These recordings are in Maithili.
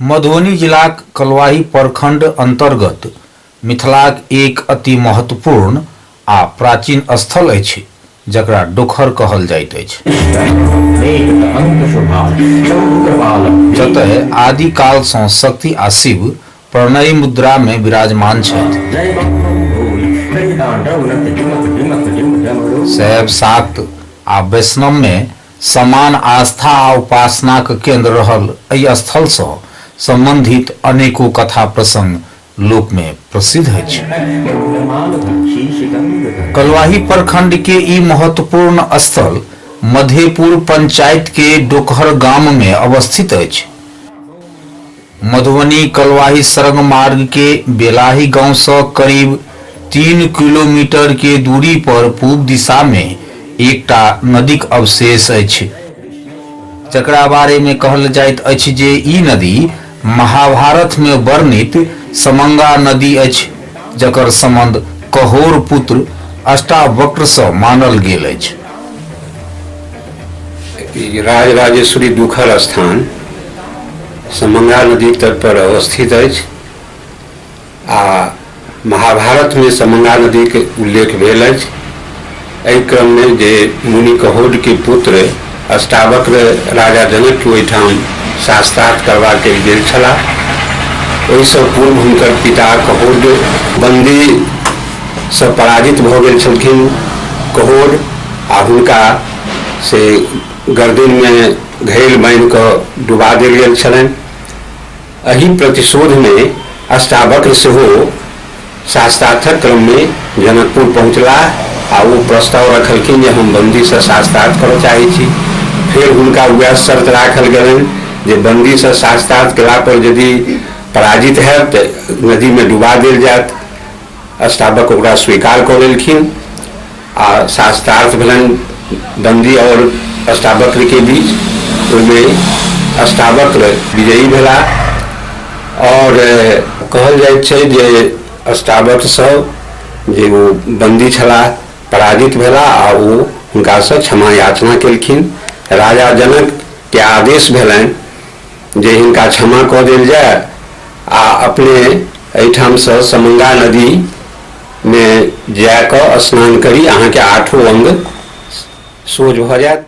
मधुबनी जिलाक कलवाही प्रखंड अंतर्गत मिथिलाक एक अति महत्वपूर्ण आ प्राचीन स्थल अछि जकरा डोखर कहल जाइत अछि जतय आदिकालसँ शक्ति आ शिव प्रणयी मुद्रा मे विराजमान छथि। शैव, शाक्त आ वैष्णव मे समान आस्था आ उपासनाक केन्द्र रहल एहि स्थल सँ सम्बन्धित अनेको कथा प्रसंग लोक मे प्रसिद्ध अछि। कलुवाही प्रखंड के ई महत्वपूर्ण स्थल मधेपुर पंचायत के डोकहर गाम मे अवस्थित अछि। मधुबनी कलवाही सड़क मार्ग के बेलाही गांव सं करीब तीन किलोमीटर के दूरी पर पूब दिशा मे एकटा नदीक अवशेष अछि। जकरा बारे मे कहल जाइत अछि जे ई नदी महाभारत मे वर्णित समंगा नदी अछि जकर संबंध कहोर पुत्र अष्टावक्र सं मानल गेल अछि। राजराजेश्वरी दुखर स्थान। समंगा नदी तट पर अवस्थित अछि आ महाभारत में समंगा नदी के उल्लेख भेल अछि एहि क्रम में जे मुनि कहोड के पुत्र अष्टावक्र राजा जनक के ओहिठाम शास्त्रार्थ करबाक लेल गेल छलाह ओहिसँ पूर्व हुनकर पिता कहोड बंदी से पराजित भऽ गेल छलखिन कहोड आ हुनका से गर्दन में घैल बान्हि कऽ डुबा देल गेल छलनि। अही प्रतिशोधमे अष्टावक्र सेहो शास्त्रार्थक क्रममे जनकपुर पहुँचलाह आ ओ प्रस्ताव रखलखिन जे हम बन्दीसँ शास्त्रार्थ करऽ चाहैत छी। फेर हुनका वएह शर्त राखल गेलनि जे बन्दीसँ शास्त्रार्थ केलापर यदि पराजित हएब तँ नदीमे डुबा देल जाएत। स्थापक ओकरा स्वीकार कऽ लेलखिन आ शास्त्रार्थ भेलनि बन्दी आओर अष्टावक्रके बीच ओहिमे अष्टावक्र विजयी भेला आओर कहल जाइत छै जे अष्टावक्रसभ जे ओ बन्दी छलाह पराजित भेला आ ओ हुनकासँ क्षमा याचना केलखिन राजा जनकके आदेश भेलनि जे हिनका क्षमा कऽ देल जाय आ अपने एहिठामसँ समंगा नदीमे जा कऽ स्नान करी अहाँके आठो अंग सोझ भऽ जायत।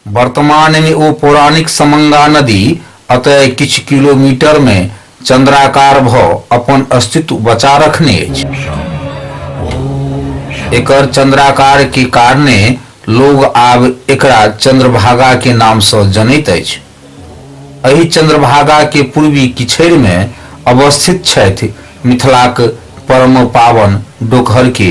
वर्तमानमे ओ पौराणिक समंगा नदी अतय किछु किलोमीटरमे चन्द्राकार भऽ अपन अस्तित्व बचा रखने अछि। एकर चन्द्राकार के कारणे लोग आब एकरा चन्द्रभागा के नाम सँ जनैत अछि। एहि चन्द्रभागा के पूर्वी किछैर मे अवस्थित छथि मिथिलाक परमपावन डोकहर के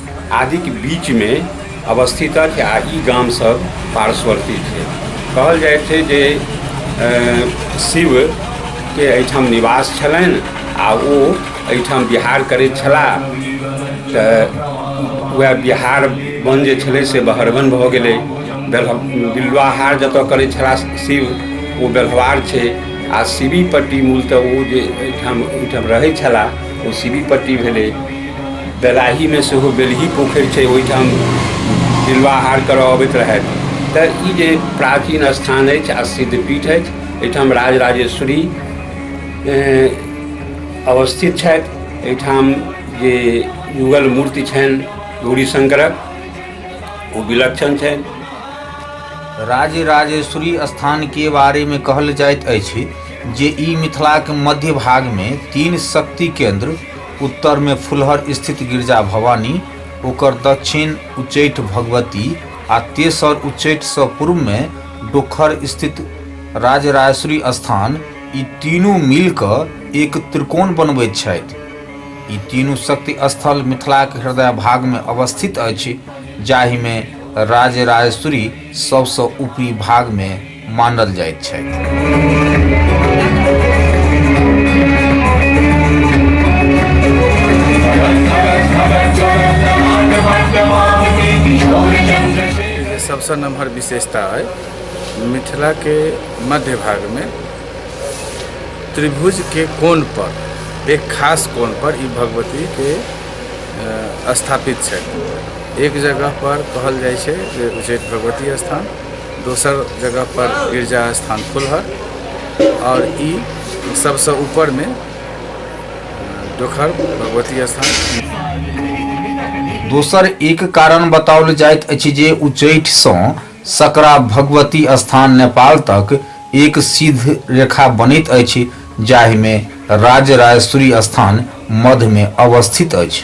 आदिक बीचमे अवस्थित अछि आ ई गामसभ पार्श्ववर्ती छै कहल जाइत छै जे शिवके एहिठाम निवास छलनि आ ओ एहिठाम बिहार करैत छलाह तऽ वएह बिहार बन जे छलै से बहरबन भऽ गेलै बेल्ह बिल्वाहार जतऽ करै छलाह शिव ओ बेल्हवार छै आ शिवी पट्टी मूलतः ओ जे एहिठाम ओहिठाम रहै छलाह कोसीबी पट्टी भेलै बेलाहीमे सेहो बेलही पोखरि छै ओहिठाम बिलवाहार करऽ अबैत रहथि तऽ ई जे प्राचीन स्थान अछि आ सिद्धपीठ अछि एहिठाम राजराजेश्वरी अवस्थित छथि एहिठाम जे युगल मूर्ति छनि गौरीशंकरक ओ विलक्षण छनि राजराजेश्वरी स्थानके बारेमे कहल जाइत अछि जे ई मिथिलाक मध्य भागमे तीन शक्ति केन्द्र, उत्तरमे फुलहर स्थित गिरजा भवानी, ओकर दच्छिन उच्चैठ भगवती आ तेसर उच्चैठसँ पूर्वमे डोखर स्थित राजराजेश्वरी स्थान, ई तीनू मिलि कऽ एक त्रिकोण बनबैत छथि। ई तीनू शक्ति स्थल मिथिलाक हृदय भागमे अवस्थित अछि जाहिमे राजराजेश्वरी सभसँ ऊपरी भागमे मानल जाइत छथि। जे सबसँ नमहर विशेषता अइ मिथिलाके मध्य भागमे त्रिभुजके कोणपर एक खास कोणपर ई भगवतीके अ, स्थापित छथि एक जगहपर कहल जाइ छै जे उच्चैठ भगवती स्थान दोसर जगह पर गिरजा स्थान खुलहर आओर ई सबसँ ऊपरमे डोखर भगवती स्थान दोसर एक कारण बताओल जाइत अछि जे उच्चैठसँ सकरा भगवती स्थान नेपाल तक एक सिद्ध रेखा बनैत अछि जाहिमे राजराजेश्वरी स्थान मध्यमे अवस्थित अछि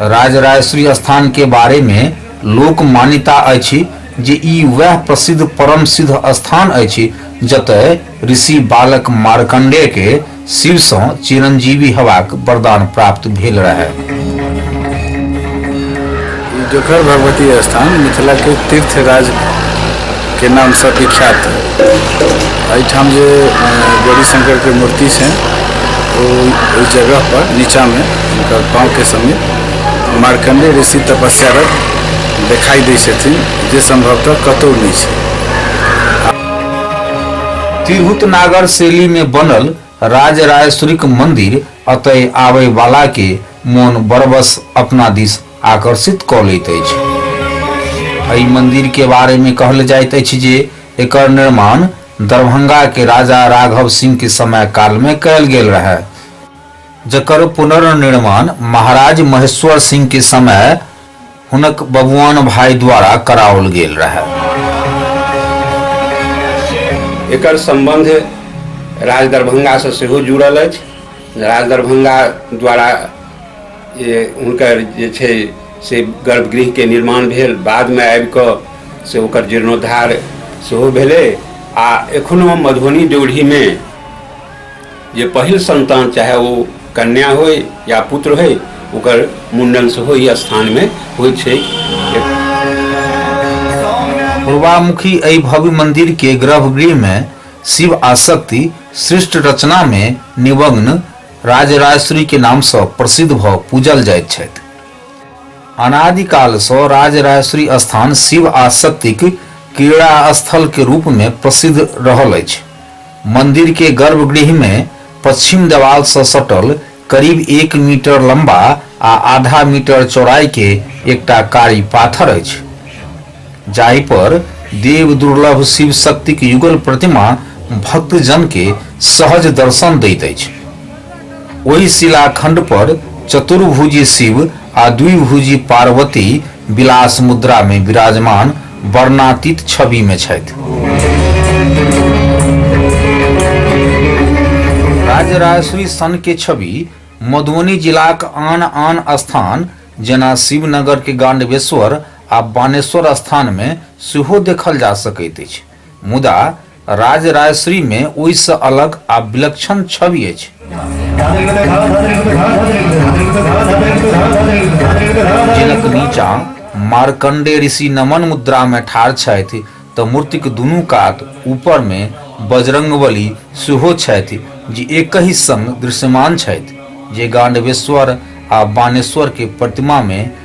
राजराजेश्वरी स्थान के बारे मे लोक मान्यता अछि जे ई वैह प्रसिद्ध परम सिद्ध स्थान अछि जतय ऋषि बालक मार्कण्डेय के शिव सँ चिरंजीवी हेबाक वरदान प्राप्त भेल रहय। ई डोकहर भगवती स्थान मिथिला के तीर्थ राज। के नामसँ विख्यात एहिठाम जे गौरी शंकरके मूर्ति छै ओ ओहि जगहपर नीचाँमे हुनकर पाँवके समीप मार्कंडे ऋषि तपस्यारत देखाइ दै छथिन जे सम्भवतः कतहु नहि छै तिरहुत नागर शैली में बनल राजराजेश्वरीक मंदिर अतय आबय वाला के मोन बरबस अपना दिस आकर्षित क लैत अछि। एहि मंदिर के बारे में कहल जाइत अछि जे एकर निर्माण दरभंगा के राजा राघव सिंह के समय काल में कयल गेल रहय। जकर पुनर्निर्माण महाराज महेश्वर सिंह के समय हुनक बबुआन भाइ द्वारा कराओल गेल रहए। एकर सम्बन्ध राजदरभंगासँ सेहो जुड़ल अछि। राजदरभंगा द्वारा जे हुनकर जे छै से गर्भगृहके निर्माण भेल। बादमे आबि कऽ से ओकर जीर्णोद्धार सेहो भेलै आ एखनो मधुबनी ड्योढ़ीमे जे पहिल संतान चाहे ओ कन्या होय या पुत्र होय ओकर मुंडन सेहो ई स्थानमे होइ छै पूर्वामुखी एहि भव्य मंदिर के गर्भगृह में शिव आ शक्ति सृष्ट रचना में निमग्न राजराजेश्वरी के नाम से प्रसिद्ध भ पूजल जाइत छथि अनादिकाल से राजराजेश्वरी स्थान शिव आ शक्तिक क्रीड़ा स्थल के रूप में प्रसिद्ध रहल अछि मन्दिर के गर्भगृह मे पच्छिम देवाल सँ सटल करीब एक मीटर लम्बा आ आधा मीटर चौड़ाई के एकटा कारी पाथर अछि जाहि पर देव दुर्लभ शिव शक्तिक युगल प्रतिमा भक्तजन के सहज दर्शन दैत अछि। ओहि शिलाखण्ड पर चतुर्भुजी शिव आ द्विभुजी पार्वती विलास मुद्रा मे विराजमान वर्णातीत छवि में छथि राज्य राजश्री सन के छवि मधुबनी जिलाक आन आन स्थान जेना शिवनगर के गांडवेश्वर आ बानेश्वर स्थान में सेहो देखल जा सकैत अछि मुदा राजराजेश्वरी मे ओहि सँ अलग आ विलक्षण छवि अछि। जिनक नीचा मार्कण्डेय ऋषि नमन मुद्रा मे ठाढ़ छथि त मूर्तिक दुनू कात ऊपर मे बजरंगबली सेहो छथि जे एकहि संग दृश्यमान छथि जे गांडवेश्वर आ बाणेश्वर के प्रतिमा मे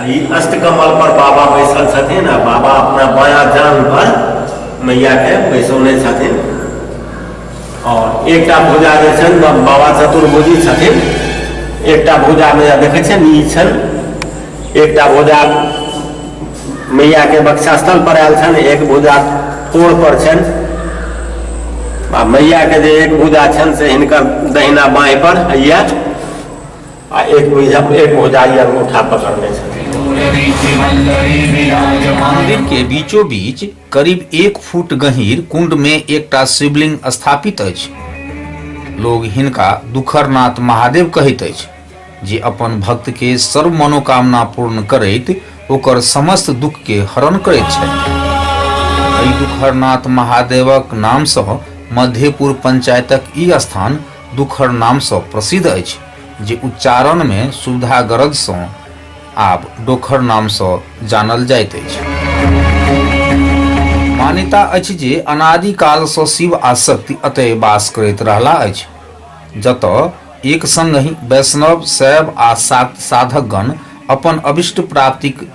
एहि अष्टकमल पर बाबा बैसल छथिन आ बाबा अपना बाया जान पर मैया के बैसौने छथिन और एक भुजा जे छनि बाबा चतुर्भुजी छथिन एक भुजा मैया देखे छनि ई छनि एक भुजा मैया के बक्षास्थल पर आयल छनि एक भुजा कोड़ पर छनि आ मैया के जे एक भुजा छनि से हिनकर दहिना बाई पर यह आ एक बुझाम एक भुजाई और मुठा पकड़ने मंदिर के बीचो बीच करीब एक फुट गहिर कुंड में एकटा शिवलिंग स्थापित अछि लोग हिनका दुखरनाथ महादेव कहैत अछि जे अपन भक्त के सर्व मनोकामना पूर्ण करैत ओकर समस्त दुख के हरण करैत छथि एहि दुखरनाथ महादेवक नामसँ मध्यपुर पंचायतक ई स्थान दुखर नामसँ प्रसिद्ध अछि जे उच्चारणमे सुविधा गरजसँ आब डोखर नामसँ जानल जाइत अछि मान्यता अछि जे अनादि कालसँ शिव आ शक्ति अतय वास करैत रहला अछि जतय एक संगहि वैष्णव शैव आ साधकगण अपन अभिष्ट प्राप्तिक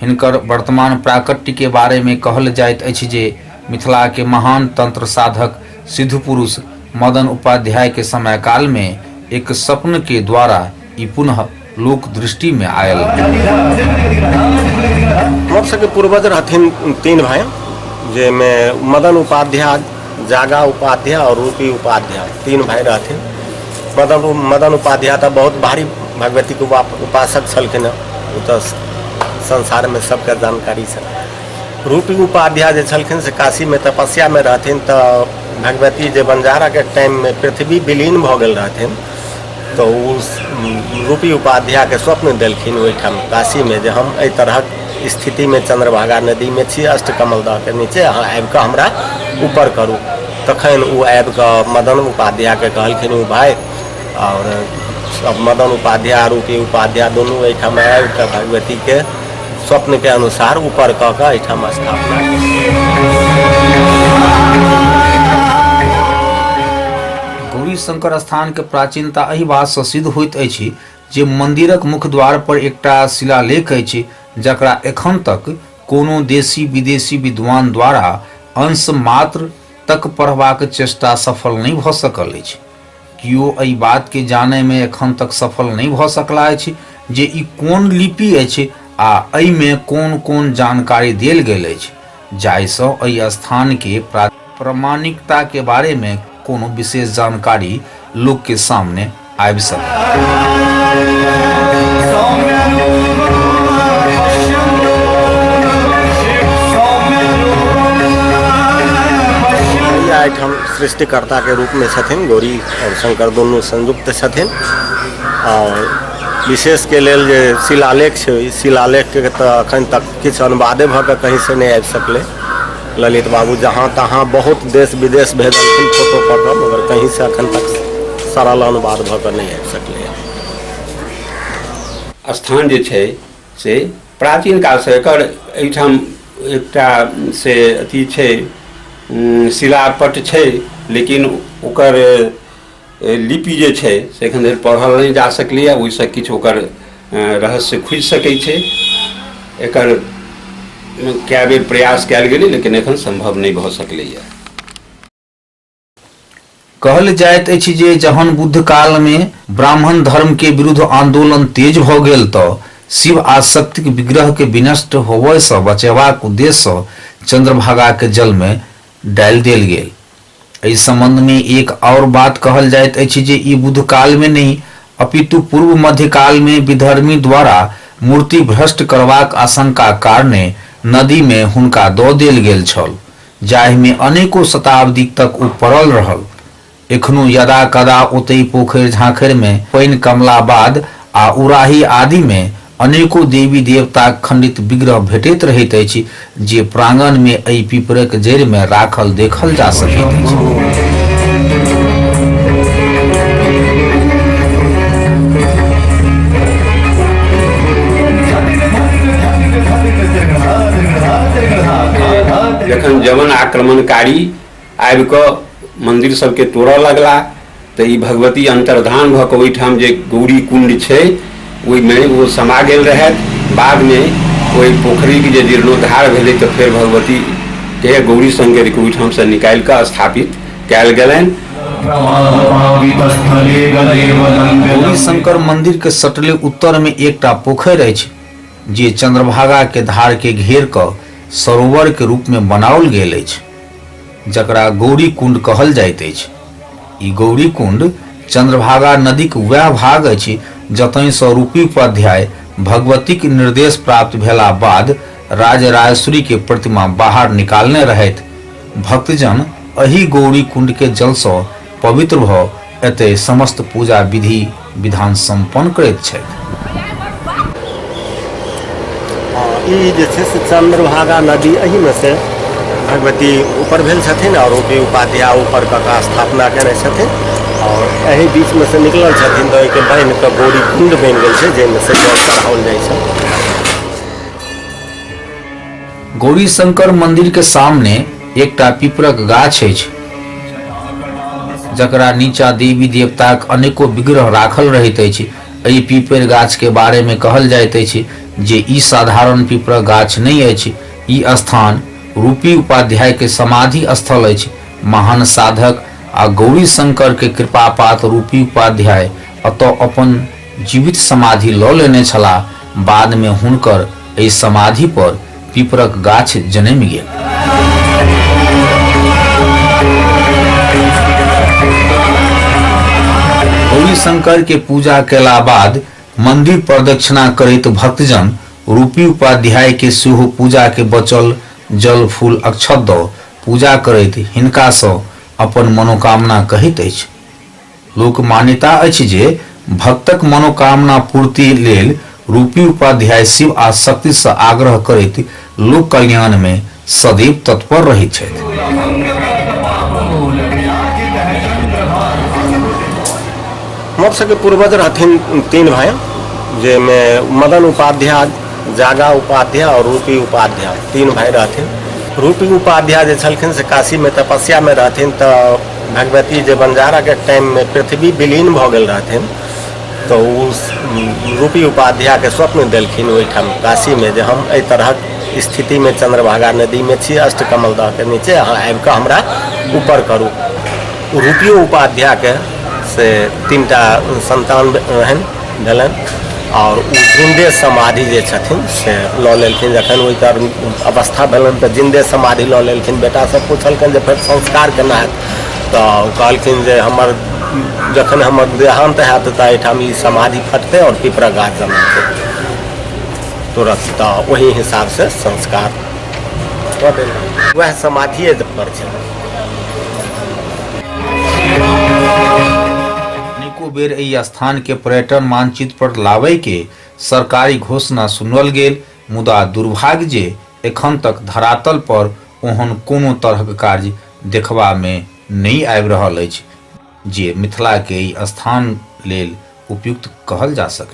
हिनकर वर्तमान प्राकट्य के बारे में कहल जाइत अछि जे मिथिला के महान तंत्र साधक सिद्धपुरुष मदन उपाध्याय के समय काल में एक स्वप्न के द्वारा ई पुनः लोक दृष्टि में आयल। हमर सबके पूर्वज रहथिन तीन भाई जाहिमे मदन उपाध्याय जागा उपाध्याय और रूपी उपाध्याय तीन भाई रहथिन मदन मदन उपाध्याय तऽ बहुत भारी भगवती के उपाप- उपासक छलखिन हँ ओ तऽ संसार में सबके जानकारी छै रूपी उपाध्याय जे छलखिन से काशी में तपस्या में रहथिन तऽ भगवती जे बंजारा के टाइम में पृथ्वी विलीन भऽ गेल रहथिन तऽ ओ रूपी उपाध्यायके स्वप्न देलखिन ओहिठाम काशीमे जे हम एहि तरहक स्थितिमे चंद्रभागा नदीमे छी अष्टकमल दहके नीचे अहाँ आबि कऽ हमरा ऊपर करू तखन ओ आबि कऽ मदन उपाध्यायके कहलखिन ओ भाय आओर सब मदन उपाध्याय रूपी उपाध्याय दुनू एहिठाम आबि कऽ भगवतीके स्वप्नके अनुसार ऊपर कऽ कऽ एहिठाम स्थापना केलखिन। गौरी शंकर स्थान के प्राचीनता एहि बात से सिद्ध होइत अछि जे मंदिरक मुख्य द्वार पर एकटा शिलालेख अछि जकरा एखन तक कोनो देशी विदेशी विद्वान द्वारा अंश मात्र तक पढ़बाक चेष्टा सफल नहि भऽ सकल अछि। कियो एहि बात के जानय मे एखन तक सफल नहि भऽ सकला अछि जे ई कोन लिपि अछि आ एहि मे कोन-कोन जानकारी देल गेल अछि जाहि सँ एहि स्थान के प्राचीनता प्रमाणिकता के बारे में कोनो विशेष जानकारी लोक के सामने आबि सकैए। भैया एहिठाम सृष्टिकर्ता के रूप में छथिन गौरी और शंकर दुनू संयुक्त छथिन और विशेष के लेल जे शिलालेख छै ओहि शिलालेख के तऽ अखन तक किछु अनुवादे भऽ कऽ कहीं से नहि आबि सकलै ललित बाबू जहाँ तहाँ बहुत देश विदेश भेजलखिन फोटो कऽ कऽ मगर कहीँसँ एखन तक सरल अनुवाद भऽ कऽ नहि आबि सकलैए स्थान जे छै से प्राचीन कालसँ एकर एहिठाम एकटा से अथी छै उम, शिलापट छै लेकिन ओकर ए, लिपि जे छै से एखन धरि पढ़ल नहि जा सकलैए ओहिसँ किछु ओकर अ, रहस्य खुजि सकै छै एकर अ, कए बेर प्रयास कयल गेलै लेकिन एखन सम्भव नहि भऽ सकलैए कहल जाइत अछि जे जहन बुद्ध काल मे ब्राह्मण धर्म के विरुद्ध आंदोलन तेज भ गेल त शिव आ शक्तिक विग्रह के विनष्ट होबय सँ बचेबाक उद्देश्य सँ चंद्रभागा के जल मे डालि देल गेल एहि सम्बन्ध मे एक आओर बात कहल जाइत अछि जे ई बुद्ध काल मे नहि अपितु पूर्व मध्य काल मे विधर्मी द्वारा मूर्ति भ्रष्ट करबाक आशंका कारणे नदी मे हुनका दऽ देल गेल छल जाहि मे अनेको शताब्दी तक ओ पड़ल रहल। एखनो यदा कदा ओतहि पोखरि झाँखरि मे पानि कमला बाद आ उराहि आदि मे अनेको देवी-देवताक खंडित विग्रह भेटैत रहैत अछि जे प्रांगण मे एहि पीपरक जड़ि मे राखल देखल जा सकैत अछि। जखन जवन आक्रमणकारी आबि कऽ मन्दिर सभके तोड़य लगला तऽ ई भगवती अन्तर्धान भऽ कऽ ओहिठाम जे गौरी कुण्ड छै ओहिमे ओ समा गेल रहथि बादमे ओहि पोखरिके जे जीर्णोद्धार भेलै तऽ फेर भगवतीके गौरी शङ्करके ओहिठामसँ निकालि कऽ स्थापित कयल गेलनि प्रवाहपावितस्थले गले वनं गौरी गलम्। शंकर मंदिर के सटले उत्तर में एकटा पोखरि अछि जे चंद्रभागा के धार के घेर क सरोवर के रूप में बनाओल गेल अछि जकरा गौरीकुण्ड कहल जाइत अछि। ई गौरीकुण्ड चन्द्रभागा नदीक वैह भाग अछि जतहिसँ रूपीउपाध्याय भगवतीक निर्देश प्राप्त भेला बाद राजराजेश्वरीके प्रतिमा बाहर निकालने रहथि। भक्तजन अहि गौरीकुण्डके जलसँ पवित्र भऽ एतय समस्त पूजा विधि, विधान सम्पन्न करैत छथि ई जे छै से चंद्रभागा नदी एही में से भगवती ऊपर भेल छथिन और ओके उपाध्याय ऊपर कऽ कऽ स्थापना केने छथिन और एही बीच में से निकलल छथिन तऽ एहिके बान्हि कऽ गौरी कुंड बनि गेल छै जाहिमे से जल चढ़ाओल जाइ छै गौरीशंकर मंदिर के सामने एकटा पीपरक गाछ अछि जकरा नीचा देवी देवताक अनेको विग्रह राखल रहैत अछि। एहि पीपर गाछ के बारे मे कहल जाइत अछि जे ई साधारण पीपरक गाछ नहि अछि। ई स्थान रूपी उपाध्याय के समाधि स्थल अछि। महान साधक आ गौरीशंकर के कृपापात्र रूपी उपाध्याय एतय अपन। जीवित समाधि लऽ लेने छलाह। बाद मे हुनकर एहि समाधि पर पीपरक गाछ जनमि गेल। गौरीशंकर के पूजा कयला बाद मंदिर प्रदक्षिणा करैत भक्तजन रूपी उपाध्याय के सेहो पूजा के बचल जल फूल अक्षत दऽ पूजा करैत हिनका सँ अपन मनोकामना कहैत अछि। लोकमान्यता अछि जे भक्तक मनोकामना पूर्ति लेल रूपी उपाध्याय शिव आ शक्ति सँ आग्रह करैत लोक कल्याण मे सदैव तत्पर रहैत छथि। हमर सबके पूर्वज रहथिन तीन भाई जाहिमे मदन उपाध्याय जागा उपाध्याय आओर रूपी उपाध्याय तीन भाई रहथिन रूपी उपाध्याय जे छलखिन से काशीमे तपस्यामे रहथिन तऽ भगवती जे बंजारा के टाइम में पृथ्वी विलीन भऽ गेल रहथिन तऽ ओ रूपी उपाध्याय के स्वप्न देलखिन ओहिठाम काशी में जे हम एहि तरहक स्थिति में चंद्रभागा नदी में छी अष्टकमल दह के नीचे अहाँ आबि कऽ हमरा ऊपर करू रूपियो उपाध्याय के से तीन टा संतान रहनि देलनि आओर ओ जिन्दे समाधि जे छथिन से लऽ लेलखिन जखन ओहिके अवस्था भेलनि तऽ जिन्दे समाधि लऽ लेलखिन बेटासभ पुछलखिन जे फेर संस्कार केना हैत तऽ कहलखिन जे हमर जखन हमर देहान्त हैत तऽ एहिठाम ई समाधि फटतै आओर पिपरक गाछ जन्मतै तुरंत तऽ ओहि हिसाबसँ संस्कार कऽ देलनि उएह समाधिए पर छलै एको बेर एहि स्थान के पर्यटन मानचित्र पर लाबय के सरकारी घोषणा सुनल गेल मुदा दुर्भाग्य जे एखन तक धरातल पर ओहन कोनो तरहक कार्य देखबा मे नहि आबि रहल अछि जे मिथिला के एहि स्थान लेल उपयुक्त कहल जा सकय।